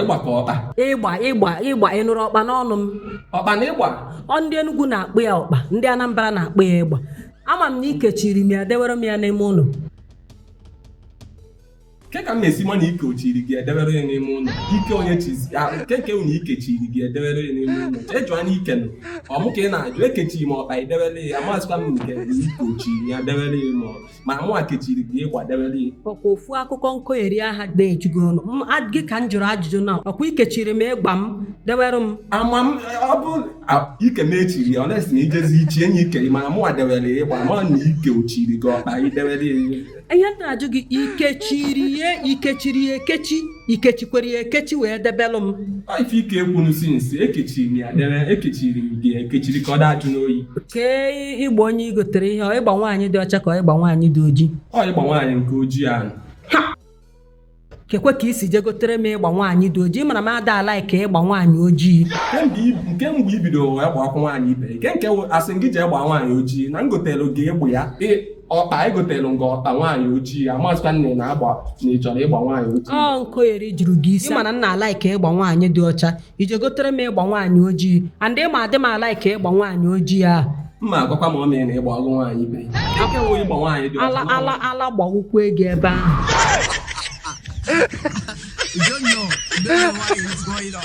ịgba ka ọkpa ịgba ịgba ịgba ịnụrụ ọkpa n'ọnụ m ọkpa na ịgba ọ ndị Enugu na-akpọ ya ọkpa ndị Anambra na-akpọ ya ịgba ama m na ikechiri m ya dewere m ya n'ime ụlọ kee ka m na-esi ma na ike o chiri gị edewere ya n'ime ụlọ ike onye chizi nke nke unu ikechiri gị edewere ya n'ime ụlọ ejụ anya ike nụ ọ mụ ka ị na-ajụ ekechiri m ọkpa edewere ya amazịkwa m nke ike o chiri ya dewere ya ma mana mụwa kechiri gịkwa dewere ya ọkwa ofu akụkọ nkogheri aha na-eju gị ọnụ M- a- gị ka m jụrụ ajụjụ na ọkwa ikechiri m ịgba m dewere m ama m ọ bụ a- ike m echiri ya ọnesi na ijezi ichi enyi ike gị mana mụnwa dewere ya ịgba ma na ike o chiri gị ọkpa idewere ya ihe m na-ajụ gị ikechiri ya ikechiri ya ekechi ikechikwara ya ekechi wee debelụ m ife i ka ekwunu since ekechiri m ya debe ekechiri m gị ekechiri ka ọ daa ajụ n'oyi kee ịgba onye i gotere ihe ọ ịgba nwaanyị dị ọcha ka ọ ịgba nwaanyị dị oji ọ ịgba nwaanyị nke ojii ahụ keekwa ka i si je gotere m ịgba nwaanyị dị oji mana m ada a-like ịgba nwaanyị ojii kemgbe i- nke mgbe i bidoro wee gba akwụ nwaanyị ibe gị, nke nke wụ- asị m gị jee gbaa nwaanyị ojii na m gotere gị ịgba ya ị- ọkpa egotelu m gị ọkpa nwaanyị ojii amazịkwa nne na agba na ị chọrọ ịgba nwaanyị ojii ọ nkogheri juru gị isi ị ma na m na-a-like ịgba nwaanyị dị ọcha i je gotere m ịgba nwaanyị ojii and ị ma adị m a-like ịgba nwaanyị ojii a mma agwakwa ma ọ mee na ịgba ọgụ nwaanyị biri aka enwe ịgba nwaanyị dị ala ọcha ala ala gbawụkwa ego ebe ahụ You don't know. You don't know what is going on.